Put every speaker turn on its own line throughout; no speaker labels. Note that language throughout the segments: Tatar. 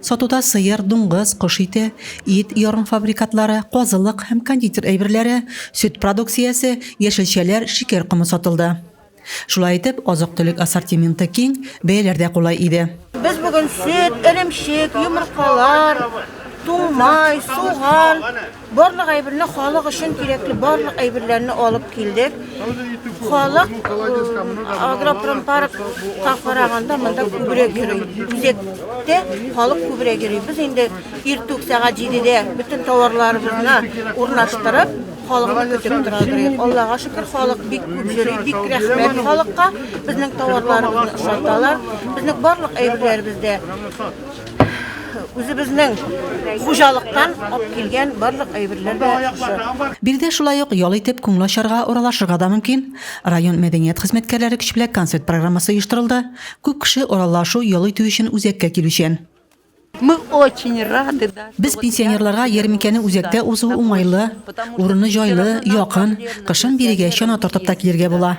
Сатуда сыер, дуңгыз, кош ите, ит, ярымфабрикатлары, казылык һәм кондитер әйберләре, сөт продукциясе, яшелчәләр, шикәр комы сатылды. Шулай итеп, азык-төлек ассортименты киң, бәяләр дә кулай иде. Без бүген сөт,
эремчек, йомыркалар, туңмай, суган, Барлык әйберне халык өчен кирәкле барлык әйберләрне алып килдек. Халык агропромпарк караганда монда күбрәк йөри. Үзәктә халык күбрәк йөри. Без инде иртүк сәгать 7-дә бөтен товарларыбызны урнаштырып, халыкны көтеп торабыз. Аллага шөкер, халык бик күп йөри, бик рәхмәт халыкка. Безнең товарларыбызны ошаталар. Безнең барлык әйберләребездә үзебезнең хуҗалыктан алып килгән барлык әйберләр дә шушы. Биредә шулай ук
ял итеп күңел ачарга, уралашырга да мөмкин. Район мәдәният хезмәткәрләре көч белән концерт программасы оештырылды. Күп кеше уралашу, ял итү өчен үзәккә килүчән.
Без пенсионерларга
ярминкәне үзәктә узу уңайлы, урыны җайлы, якын, кышын бирегә чана тартып та килергә була.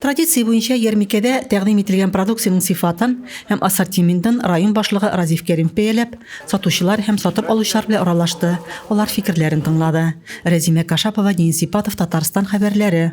Традиция буенча
ярмикәдә тәкъдим ителгән продукциянең сыйфатын һәм ассортиментын район башлыгы Разиф Кәримов бәяләп, сатучылар һәм сатып алучылар белән аралашты, алар фикерләрен тыңлады. Рәзимә Кашапова, Денис Сипатов, Татарстан хәбәрләре.